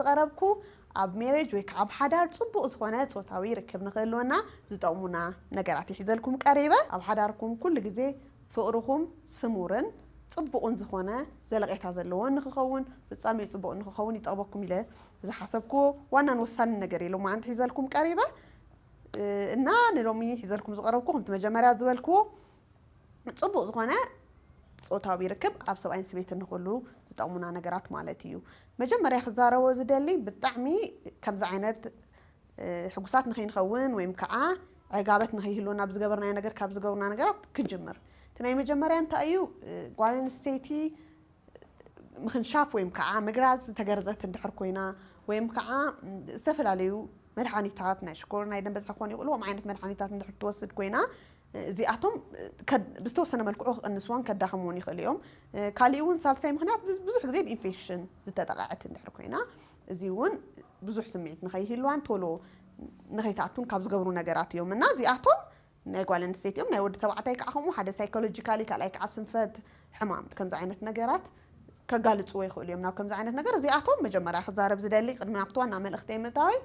ዝቐረብኩ ኣብ ሜሬጅ ወይ ከኣ ኣብ ሓዳር ጽቡቕ ዝኾነ ጾታዊ ርክብ ንኽህልወና ዝጠቕሙና ነገራት እየ ሒዘልኩም ቀሪበ። ኣብ ሓዳርኩም ኩሉ ግዜ ፍቕርኹም ስሙርን ጽቡቕን ዝኾነ ዘለቄታ ዘለዎን ንኽኸውን ፍጻሜኡ ጽቡቕ ንኽኸውን ይጠቕመኩም ኢለ ዝሓሰብክዎ ዋናን ወሳንን ነገር እየ ሎማዓንቲ ሒዘልኩም ቀሪበ። እና ንሎሚ ሒዘልኩም ዝቐረብኩ ከምቲ መጀመርያ ዝበልክዎ ፅቡቅ ዝኾነ ፆታዊ ርክብ ኣብ ሰብኣይን ስበይትን ንክህሉ ዝጠቅሙና ነገራት ማለት እዩ። መጀመርያ ክዛረቦ ዝደሊ ብጣዕሚ ከምዚ ዓይነት ሕጉሳት ንከይንኸውን ወይም ከዓ ዕጋበት ንከይህልወና ኣብ ዝገበርናዮ ነገር ካብ ዝገብሩና ነገራት ክንጅምር እቲ ናይ መጀመርያ እንታይ እዩ ጓል ኣንስተይቲ ምኽንሻፍ ወይም ከዓ ምግራዝ ዝተገርዘት እንድሕር ኮይና ወይም ከዓ ዝተፈላለዩ መድሓኒታት ናይ ሽኮር ናይ ደም በዝሒ ክኾኑ ይኽእሉ ከምኡ ዓይነት መድሓኒታት እንድሕር ትወስድ ኮይና እዚኣቶም ብዝተወሰነ መልክዑ ክቕንስዎን ከዳኽምዎን ይኽእሉ እዮም ካሊእ እውን ሳልሳይ ምኽንያት ብዙሕ ግዜ ብኢንፌክሽን ዝተጠቐዐት እንድሕር ኮይና እዚ እውን ብዙሕ ስምዒት ንኸይህልዋን ቶሎ ንኸይትኣቱን ካብ ዝገብሩ ነገራት እዮም እና እዚኣቶም ናይ ጓል ኣንስተይቲ እዮም ናይ ወዲ ተባዕታይ ካዓ ከምኡ ሓደ ሳይኮሎጂካሊ ካልኣይ ካዓ ስንፈት ሕማም ከምዚ ዓይነት ነገራት ከጋልፅዎ ይክእሉ እዮም ናብ ከምዚ ዓይነት ነገር እዚኣቶም መጀመርያ ክዛረብ ዝደሊ ቅድሚ ናብቲ ዋና መልእክተይ ምእታወይ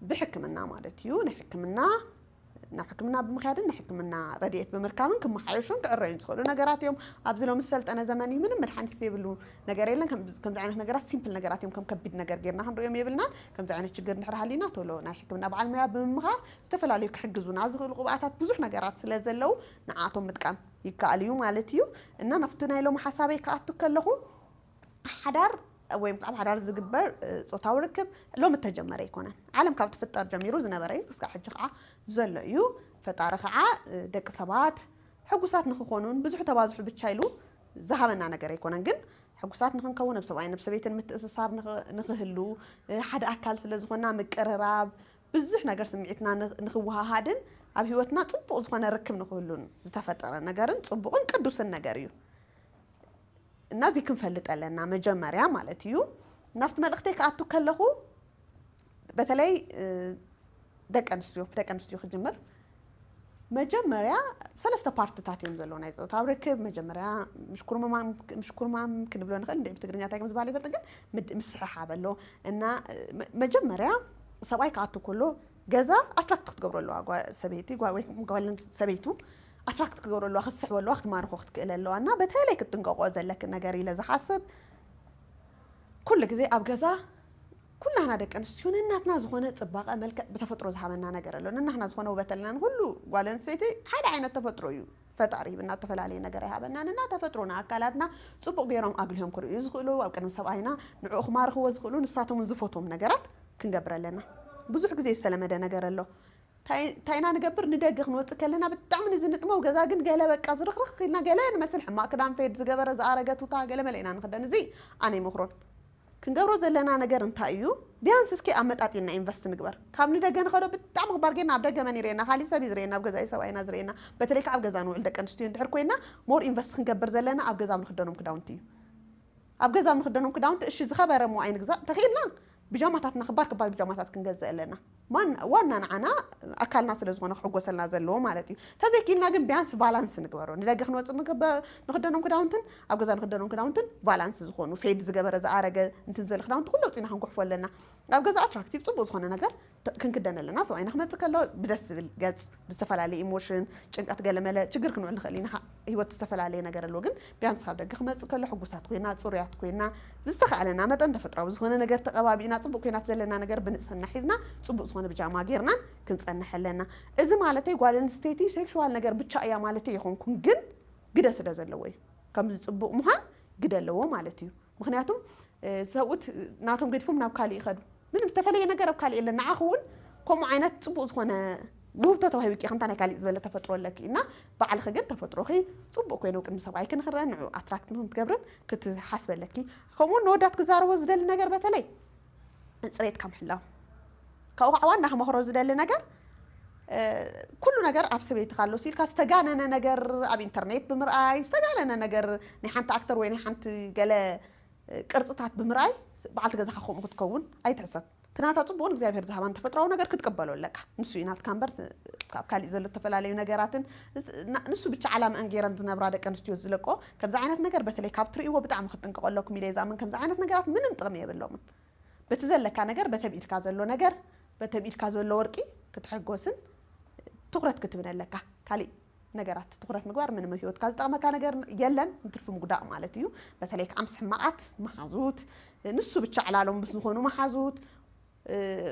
ብሕክምና ማለት እዩ ናይ ሕክምና ናብ ሕክምና ብምክያድን ንሕክምና ረድኤት ብምርካብን ክመሓየሹን ክዕረዩን ዝኽእሉ ነገራት እዮም ኣብዚ ሎሚ ዝሰልጠነ ዘመን እዩ ምንም መድሓኒት ዘይብሉ ነገር የለን ከምዚ ዓይነት ነገራት ሲምፕል ነገራት እዮም ከም ከቢድ ነገር ጌርና ክንሪኦም የብልናን ከምዚ ዓይነት ችግር እንድሕር ሃሊና ቶሎ ናይ ሕክምና በዓል ሙያ ብምምኻር ዝተፈላለዩ ክሕግዙና ዝኽእሉ ቅብኣታት ብዙሕ ነገራት ስለ ዘለው ንዓኣቶም ምጥቃም ይከኣል እዩ ማለት እዩ። እና ናብቲ ናይ ሎሚ ሓሳበይ ክኣቱ ከለኹ ሓዳር ወይ ኣብ ሓዳር ዝግበር ጾታዊ ርክብ ሎሚ እተጀመረ ኣይኮነን። ዓለም ካብ ትፍጠር ጀሚሩ ዝነበረ እዩ፣ ክሳዕ ሕጂ ከዓ ዘሎ እዩ። ፈጣሪ ከዓ ደቂ ሰባት ሕጉሳት ንክኾኑን ብዝሑ ተባዝሑ ብቻ ኢሉ ዝሃበና ነገር ኣይኮነን። ግን ሕጉሳት ንክንከውን ኣብ ሰብኣይን ኣብ ሰበይትን ምትእስሳር ንክህሉ ሓደ ኣካል ስለ ዝኾንና ምቅርራብ፣ ብዙሕ ነገር ስምዒትና ንኽወሃሃድን ኣብ ህይወትና ጽቡቕ ዝኾነ ርክብ ንኽህሉን ዝተፈጠረ ነገርን ጽቡቕን ቅዱስን ነገር እዩ እና እዚ ክንፈልጥ ኣለና መጀመርያ ማለት እዩ ናብቲ መልእኽተይ ክኣቱ ከለኹ በተለይ ደቂ ኣንስትዮ ደቂ ኣንስትዮ ክጅምር መጀመርያ ሰለስተ ፓርትታት እዮም ዘለዉ ናይ ፆታዊ ርክብ መጀመርያ ምሽኩርማም ክንብሎ ንኽእል እንደ ብትግርኛ እንታይ ከም ዝበሃል ይፈልጥ ግን ምስሕሓብ ኣሎ እና መጀመርያ ሰብኣይ ክኣቱ ከሎ ገዛ ኣትራክት ክትገብሮ ኣለዋ ሰበይቲ ጓልን ሰበይቱ ኣትራክት ክትገብሮ ኣለዋ ክትስሕቦ ኣለዋ ክትማርኾ ክትክእል ኣለዋ እና በተለይ ክትጥንቀቆ ዘለክን ነገር ኢለ ዝሓስብ ኩሉ ግዜ ኣብ ገዛ ኩላህና ደቂ ኣንስትዮ ነናትና ዝኾነ ጽባቐ መልክዕ ብተፈጥሮ ዝሃበና ነገር ኣሎ ነናህና ዝኾነ ውበት ኣለና ንኹሉ ጓል ኣንስተይቲ ሓደ ዓይነት ተፈጥሮ እዩ ፈጣሪ ሂብና እተፈላለየ ነገር ኣይሃበናን እና ተፈጥሮ ንኣካላትና ጽቡቕ ገይሮም ኣጉልሆም ክርእዩ ዝኽእሉ ኣብ ቅድሚ ሰብኣይና ንዕኡ ክማርኽዎ ዝኽእሉ ንሳቶምን ዝፈትዎም ነገራት ክንገብር ኣለና ብዙሕ ግዜ ዝተለመደ ነገር ኣሎ ታይ ኢና ንገብር ንደገ ክንወፅእ ከለና ብጣዕሚ ንዝንጥመው ገዛ ግን ገለ በቃ ዝርኽርኽ ኢልና ገለ ንመስል ሕማቅ ክዳን ፌድ ዝገበረ ዝኣረገ ቱታ ገለ መለ ኢና ንኽደን እዚ ኣነ ይመኽሮን ክንገብሮ ዘለና ነገር እንታይ እዩ ቢያንስ እስኪ ኣመጣጢና ኢንቨስት ንግበር ካብ ንደገ ንከዶ ብጣዕሚ ክባር ጌርና ኣብ ደገ መን ይሪኤና ካሊእ ሰብ እዩ ዝሪኤና ኣብ ገዛ እዩ ሰብኣይና ዝሪኤና በተለይ ከዓ ኣብ ገዛ ንውዕል ደቂ ኣንስትዮ እንድሕር ኮይና ሞር ኢንቨስት ክንገብር ዘለና ኣብ ገዛ ኣብ ንክደኖም ክዳውንቲ እዩ ኣብ ገዛ ኣብ ንክደኖም ክዳውንቲ እሺ ዝከበረ እሞ ኣይንግዛእ ተኪኢልና ቢጃማታትና ክባር ክባር ቢጃማታት ክንገዝእ ኣለና ዋና ንዓና ኣካልና ስለ ዝኾነ ክሕጎሰልና ዘለዎ ማለት እዩ። ተዘይኪኢልና ግን ቢያንስ ቫላንስ ንግበሮ ንደገ ክንወጽእ ንኽደኖም ክዳውንትን ኣብ ገዛ ንኽደኖም ክዳውንትን ቫላንስ ዝኾኑ ፌድ ዝገበረ ዝኣረገ እንትን ዝበለ ክዳውንቲ ኩሉ ኣውጺእና ክንጉሕፎ ኣለና። ኣብ ገዛ ኣትራክቲቭ ጽቡቅ ዝኾነ ነገር ክንክደን ኣለና ሰብኣይና ክመጽእ ከሎ ብደስ ዝብል ገጽ። ብዝተፈላለየ ኢሞሽን፣ ጭንቀት ገለመለ ችግር ክንውዕል ንኽእል ኢና። ህይወት ዝተፈላለየ ነገር ኣለዎ ግን ቢያንስ ካብ ደገ ክመጽእ ከሎ ሕጉሳት ኮይና ጽሩያት ኮይና ብዝተኻእለና መጠን ተፈጥሮኣዊ ዝኾነ ነገር ተቐባቢእና ጽቡቕ ኮይና እቲ ዘለና ነገር ብንጽህና ሒዝና ጽቡቕ ዝኾነ ብጃማ ጌርናን ክንጸንሕ ኣለና። እዚ ማለተይ ጓል ኣንስተይቲ ሴክሹዋል ነገር ብቻ እያ ማለተይ ኣይኮንኩን ግን ግደ ስለ ዘለዎ እዩ። ከምዚ ጽቡቕ ምዃን ግደ ኣለዎ ማለት እዩ። ምክንያቱም ሰብኡት ናቶም ገድፎም ናብ ካሊእ ይኸዱ ምንም ዝተፈለየ ነገር ኣብ ካሊእ የለን ንዓኺ እውን ከምኡ ዓይነት ፅቡቅ ዝኾነ ውህብቶ ተዋሂብኪ ከምታ ናይ ካሊእ ዝበለ ተፈጥሮ ኣለኪ እና ባዕልኺ ግን ተፈጥሮኺ ፅቡቅ ኮይኑ ቅድሚ ሰብኣይኪ ንክረአ ንዑ ኣትራክት ንክትገብርን ክትሓስቢ ኣለኪ ከምኡውን ንወዳት ክዛረቦ ዝደሊ ነገር በተለይ ጽሬትካ ምሕላው ካብኡ ከዓ ዋና ክመክሮ ዝደሊ ነገር ኩሉ ነገር ኣብ ሰበይትካ ኣሎ ሲልካ ዝተጋነነ ነገር ኣብ ኢንተርኔት ብምርኣይ ዝተጋነነ ነገር ናይ ሓንቲ ኣክተር ወይ ናይ ሓንቲ ገለ ቅርፅታት ብምርኣይ በዓልቲ ገዛኻ ከምኡ ክትከውን ኣይትሕሰብ እቲ ናታ ፅቡቕን እግዚኣብሄር ዝሃባን ተፈጥሯዊ ነገር ክትቀበሎ ኣለካ ንሱ እዩ ናትካ እምበር ካብ ካሊእ ዘሎ ዝተፈላለዩ ነገራትን ንሱ ብቻ ዓላምአን ገይረን ዝነብራ ደቂ ኣንስትዮ ዝለቆ ከምዚ ዓይነት ነገር በተለይ ካብ ትርእይዎ ብጣዕሚ ክትጥንቀቁ ኣለኩም ኢለ ዝኣምን ከምዚ ዓይነት ነገራት ምንም ጥቅሚ የብሎምን በቲ ዘለካ ነገር በቲ ኣብ ኢድካ ዘሎ ነገር በቲ ኣብ ኢድካ ዘሎ ወርቂ ክትሕጎስን ትኩረት ክትብን ኣለካ ካሊእ ነገራት ትኩረት ምግባር ምንም ኣብ ሂወትካ ዝጠቅመካ ነገር የለን እንትርፊ ምጉዳእ ማለት እዩ በተለይ ከዓ ምስ ሕማቃት መሓዙት ንሱ ብቻ ዕላሎም ምስ ዝኮኑ መሓዙት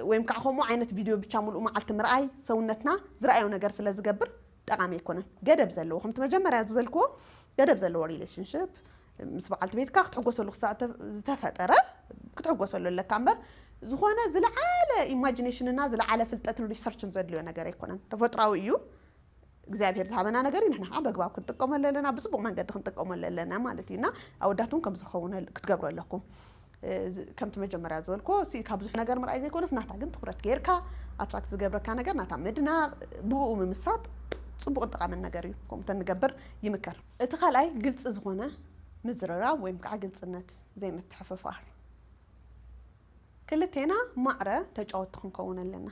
ወይም ከዓ ከምኡ ዓይነት ቪድዮ ብቻ ሙሉእ መዓልቲ ምርኣይ ሰውነትና ዝረኣዮ ነገር ስለ ዝገብር ጠቓሚ ኣይኮነን። ገደብ ዘለዎ ከምቲ መጀመርያ ዝበልክዎ ገደብ ዘለዎ ሪሌሽንሽፕ ምስ በዓልቲ ቤትካ ክትሕጎሰሉ ክሳዕ እተ- ዝተፈጠረ ክትሕጎሰሉ ኣለካ እምበር ዝኾነ ዝለዓለ ኢማጂኔሽንና ዝለዓለ ፍልጠትን ሪሰርችን ዘድልዮ ነገር ኣይኮነን። ተፈጥሯዊ እዩ። እግዚኣብሄር ዝሃበና ነገር እዩ ንሕና ከዓ በግባብ ክንጥቀመሉ ኣለና ብፅቡቅ መንገዲ ክንጥቀመሉ ኣለና ማለት እዩ እና ኣወዳት እውን ከምዚ ክኸውን ክትገብሩ ኣለኩም ከምቲ መጀመርያ ዝበልክዎ ሲ ካብ ብዙሕ ነገር ምርኣይ ዘይኮነስ ናታ ግን ትኩረት ጌርካ ኣትራክት ዝገብረካ ነገር ናታ ምድናቅ ብኡ ምምሳጥ ፅቡቅን ጠቃምን ነገር እዩ ከምኡ ተንገብር ይምከር እቲ ካልኣይ ግልፂ ዝኾነ ምዝርራብ ወይም ከዓ ግልፅነት ዘይምትሕፍፋር ክልቴና ማዕረ ተጫወቲ ክንከውን ኣለና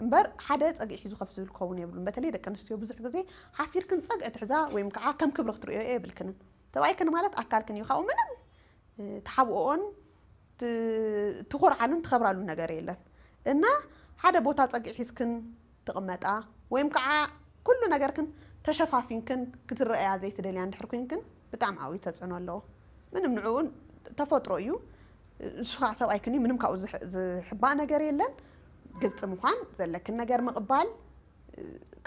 እምበር ሓደ ጸግዒ ሒዙ ከፍ ዝብል ክኸውን የብሉን። በተለይ ደቂ ኣንስትዮ ብዙሕ ግዜ ሓፊርክን ጸግዒ ትሕዛ ወይም ከኣ ከም ክብሪ ክትርእዮኦ የብልክንን። ሰብኣይክን ማለት ኣካልክን እዩ ካብኡ ምንም ትሓብኦኦን ትኾርዓሉን ትኸብራሉን ነገር የለን። እና ሓደ ቦታ ጸግዒ ሒዝክን ትቕመጣ ወይም ከኣ ኩሉ ነገርክን ተሸፋፊንክን ክትረኣያ ዘይትደልያ እንድሕር ኮይንክን ብጣዕሚ ዓብዩ ተጽዕኖ ኣለዎ። ምንም ንዕኡ ተፈጥሮ እዩ። ንሱ ከዓ ሰብኣይ ክኒ ምንም ካብኡ ዝሕባእ ነገር የለን ግልፂ ምኳን ዘለክን ነገር ምቕባል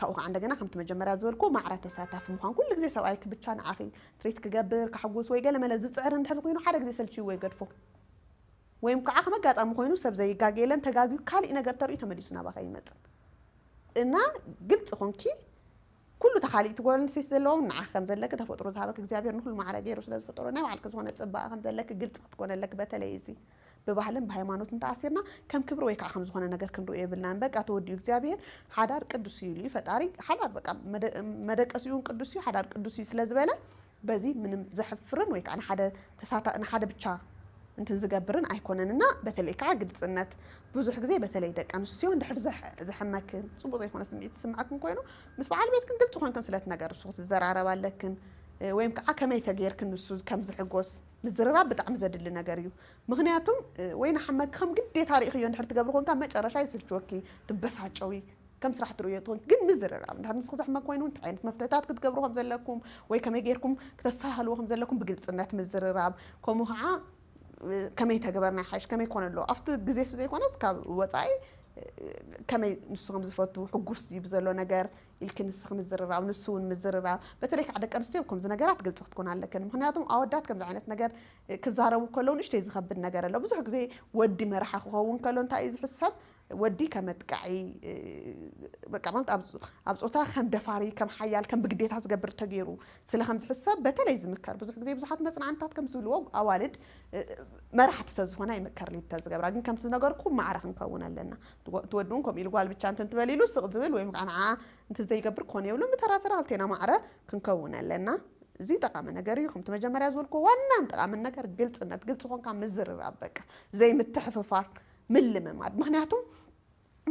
ካብኡ ከዓ እንደገና ከምቲ መጀመርያ ዝበልኩ ማዕረ ተሳታፊ ምኳን ኩሉ ግዜ ሰብኣይኪ ብቻ ንዓኺ ትሪት ክገብር ከሕጉስ ወይ ገለመለ ዝፅዕር እንድሕር ኮይኑ ሓደ ግዜ ሰልችይዎ ይገድፎ ወይም ከዓ ከም ኣጋጣሚ ኮይኑ ሰብ ዘይጋገ የለን ተጋግዩ ካሊእ ነገር ተርእዩ ተመሊሱ ናባኻ ይመፅእ እና ግልፂ ኮንኪ ኩሉ እቲ ካሊእቲ ጓል ኣንስተይቲ ዘለዎም ንዓኺ ከም ዘለኪ ተፈጥሮ ዝሃበኪ እግዚኣብሔር ንኩሉ ማዕረ ገይሩ ስለ ዝፈጠሮ ናይ ባዕልኪ ዝኮነ ፅባቀ ከም ዘለኪ ግልፂ ክትኮኒ ኣለኪ በተለይ እዚ ብባህልን ብሃይማኖትን ተኣሲርና ከም ክብሪ ወይ ከዓ ከም ዝኮነ ነገር ክንሪኦ የብልናን በቃ ተወዲኡ እግዚኣብሔር ሓዳር ቅዱስ እዩ ኢሉ እዩ ፈጣሪ ሓዳር በቃ መደቀሲኡ እውን ቅዱስ እዩ ሓዳር ቅዱስ እዩ ስለ ዝበለ በዚ ምንም ዘሕፍርን ወይ ከዓ ንሓደ ተሳታ ንሓደ ብቻ እንትን ዝገብርን ኣይኮነን እና በተለይ ከዓ ግልፅነት ብዙሕ ግዜ በተለይ ደቂ ኣንስትዮ እንድሕር ዘሕመክን ፅቡቅ ዘይኮነ ስምዒት ዝስመዐክን ኮይኑ ምስ በዓል ቤትክን ግልፂ ኮይንክን ስለ እትነገርሱ ክትዘራረባ ኣለክን ወይም ከዓ ከመይ ተገይርክን ንሱ ከም ዝሕጎስ ምዝርራብ ብጣዕሚ ዘድሊ ነገር እዩ ምክንያቱም ወይ ናሓመኪ ከም ግዴታ ሪኢክዮ እንድሕር ትገብሪ ኮንካ መጨረሻ የስልችወኪ ትበሳጨዊ ከም ስራሕ ትርእዮ ትኹን ግን ምዝርራብ እንድሕር ንስኺ ዘሕመ ኮይኑ እንታይ ዓይነት መፍትሕታት ክትገብሩ ከም ዘለኩም ወይ ከመይ ጌርኩም ክተስተሃህልዎ ከም ዘለኩም ብግልጽነት ምዝርራብ ከምኡ ከዓ ከመይ ተግበርና ይሓይሽ ከመይ ኮነ ኣለዎ ኣብቲ ግዜ እሱ ዘይኮነስ ካብ ወፃኢ ከመይ ንሱ ከም ዝፈቱ ሕጉስ ድዩ ብዘሎ ነገር ኢልኪ ንስኺ ምዝርራብ ንሱ እውን ምዝርራብ በተለይ ከዓ ደቂ ኣንስትዮ ከምዚ ነገራት ግልፂ ክትኮን ኣለክን ምክንያቱም ኣወዳት ከምዚ ዓይነት ነገር ክዛረቡ ከለዉ ንእሽተይ ዝኸብድ ነገር ኣሎ ብዙሕ ግዜ ወዲ መራሒ ክኸውን ከሎ እንታይ እዩ ዝሕሰብ ወዲ ከም ኣጥቃዒ በቃ ማለት ኣብ ጾታ ከም ደፋሪ ከም ሓያል ከም ብግዴታ ዝገብር ተገይሩ ስለ ከም ዝሕሰብ በተለይ ዝምከር ብዙሕ ግዜ ብዙሓት መጽናዕንታት ከም ዝብልዎ ኣዋልድ መራሕቲ ተዝኾና ይምከር ሊድ ተዝገብራ ግን ከምቲ ዝነገርኩ ማዕረ ክንከውን ኣለና እቲ ወዲ እውን ከምኡ ኢሉ ጓል ብቻ እንትን ትበል ኢሉ ስቕ ዝብል ወይ ከዓ ንዓ እንትን ዘይገብር ኮነ የብሉን ብተራተራ ክልቴና ማዕረ ክንከውን ኣለና እዚ ጠቃሚ ነገር እዩ ከምቲ መጀመርያ ዝበልኩ ዋናን ጠቃምን ነገር ግልፅነት ግልፂ ኮንካ ምዝርራብ በቃ ዘይምትሕፍፋር ምልምማድ ምክንያቱ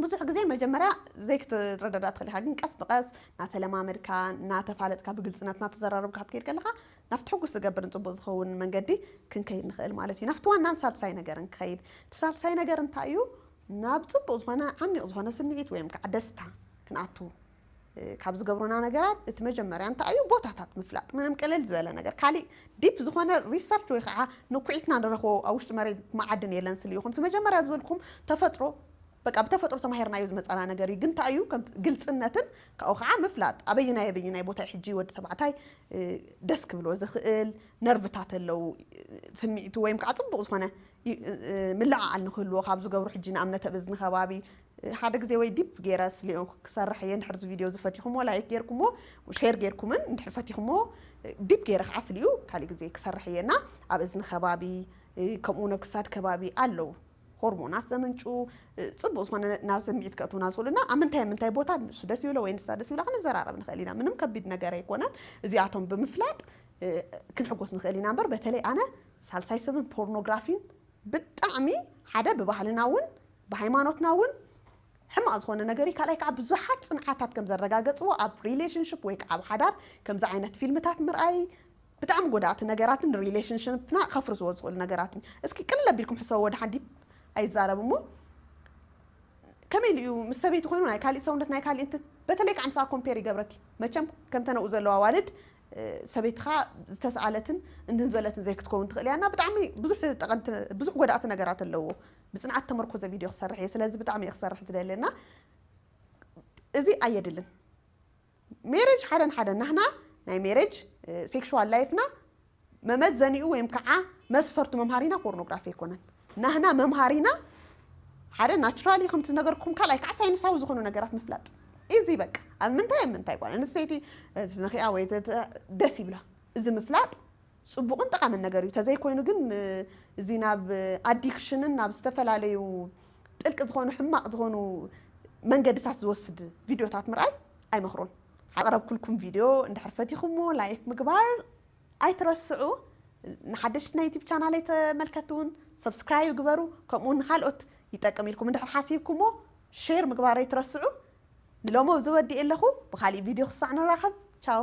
ብዙሕ ግዜ መጀመርያ ዘይክትረዳዳእ ትኽእል ኢኻ ግን ቀስ ብቐስ ናተለማመድካ ናተፋለጥካ ብግልፅነት ናተዘራረብካ ክትከይድ ከለኻ ናብቲ ሕጉስ ዝገብርን ፅቡቕ ዝኸውን መንገዲ ክንከይድ ንኽእል ማለት እዩ። ናብቲ ዋናን ሳልሳይ ነገርን ክኸይድ እቲ ሳልሳይ ነገር እንታይ እዩ ናብ ፅቡቕ ዝኾነ ዓሚቕ ዝኾነ ስምዒት ወይም ከዓ ደስታ ክንኣቱ ካብ ዝገብሩና ነገራት እቲ መጀመርያ እንታይ እዩ ቦታታት ምፍላጥ ምንም ቅልል ዝበለ ነገር ካሊእ ዲፕ ዝኾነ ሪሰርች ወይ ከዓ ንኩዒትና ንረኽቦ ኣብ ውሽጢ መሬት መዓድን የለን ስል ይኹም እቲ መጀመርያ ዝበልኩም ተፈጥሮ በቃ ብተፈጥሮ ተማሂርናዮ ዝመፃና ነገር እዩ ግን እንታይ እዩ ከም ግልፅነትን ካብኡ ከዓ ምፍላጥ ኣበይናይ ኣበይናይ ቦታ እዩ ሕጂ ወዲ ተባዕታይ ደስ ክብሎ ዝኽእል ነርቭታት ኣለው ስምዒቱ ወይም ከዓ ፅቡቅ ዝኾነ ምልዕዓል ንክህልዎ ካብ ዝገብሩ ሕጂ ንኣብነት ኣብ እዝኒ ከባቢ ሓደ ግዜ ወይ ዲፕ ጌረ ስሌኦ ክሰርሕ እየ እንድሕር እዚ ቪድዮ እዚ ፈቲኹሞ ላይክ ጌርኩሞ ሼር ጌርኩምን እንድሕር ፈቲኹሞ ዲፕ ጌረ ከዓ ስሊኡ ካሊእ ግዜ ክሰርሕ እየ እና ኣብ እዝኒ ከባቢ ከምኡ እውን ኣብ ክሳድ ከባቢ ኣለው ሆርሞናት ዘምንጩ ፅቡቅ ዝኾነ ናብ ስምዒት ከእትውና ዝኽእሉ እና ኣብ ምንታይ ምንታይ ቦታ ንሱ ደስ ይብሎ ወይ ንሳ ደስ ይብላ ክንዘራረብ ንኽእል ኢና ምንም ከቢድ ነገር ኣይኮነን እዚኣቶም ብምፍላጥ ክንሕጎስ ንኽእል ኢና እምበር በተለይ ኣነ ሳልሳይ ሰብን ፖርኖግራፊን ብጣዕሚ ሓደ ብባህልና እውን ብሃይማኖትና እውን ሕማቕ ዝኾነ ነገር እዩ፣ ካልኣይ ከዓ ብዙሓት ፅንዓታት ከም ዘረጋገፅዎ ኣብ ሪሌሽንሽፕ ወይ ከዓ ኣብ ሓዳር ከምዚ ዓይነት ፊልምታት ምርኣይ ብጣዕሚ ጎዳእቲ ነገራት ን ሪሌሽንሽፕና ከፍርስዎ ዝኽእሉ ነገራት እዩ። እስኪ ቅልል ኣቢልኩም ሕሰቡ ወደ ሓዲ ኣይዛረብ እሞ ከመይ ኢሉ እዩ ምስ ሰበይቲ ኮይኑ ናይ ካሊእ ሰውነት ናይ ካሊእ እንትን በተለይ ከዓ ምሳኣ ኮምፔር ይገብረኪ መቸም ከምተን ኣብኡ ዘለዋ ኣዋልድ ሰበይትኻ ዝተስኣለትን እንትን ዝበለትን ዘይክትከውን ትኽእል እያ እና ብጣዕሚ ብዙሕ ጠቐምቲ ብዙሕ ጎዳእቲ ነገራት ኣለዎ ብጽንዓት ተመርኮዘ ቪድዮ ክሰርሕ እየ ስለዚ ብጣዕሚ እየ ክሰርሕ ዝደሊ እና እዚ ኣየድልን ሜሬጅ ሓደ ንሓደ ናህና ናይ ሜሬጅ ሴክሹዋል ላይፍና መመዘኒኡ ወይም ከዓ መስፈርቱ መምሃሪና ፖርኖግራፊ ኣይኮነን ናህና መምሃሪና ሓደ ናቹራሊ ከምቲ ዝነገርኩም ካልኣይ ከዓ ሳይንሳዊ ዝኾኑ ነገራት ምፍላጥ እዚ በቃ ኣብ ምንታይ ኣብ ምንታይ ጓል ኣንስተይቲ ትነኪኣ ወይ ደስ ይብላ እዚ ምፍላጥ ጽቡቕን ጠቓምን ነገር እዩ። ተዘይኮይኑ ግን እዚ ናብ ኣዲክሽንን ናብ ዝተፈላለዩ ጥልቂ ዝኾኑ ሕማቕ ዝኾኑ መንገድታት ዝወስድ ቪድዮታት ምርኣይ ኣይመኽሮን። ኣቕረብኩልኩም ቪድዮ እንድሕር ፈቲኹምዎ ላይክ ምግባር ኣይትረስዑ። ንሓደሽቲ ናይ ዩቲብ ቻናለይ ተመልከትቲ እውን ሰብስክራይብ ግበሩ። ከምኡ እውን ንካልኦት ይጠቅም ኢልኩም እንድሕር ሓሲብኩምዎ ሼር ምግባር ኣይትረስዑ። ንሎሚ ኣብዚ ወዲኤ ኣለኹ። ብኻሊእ ቪድዮ ክሳዕ ንራኸብ ቻው።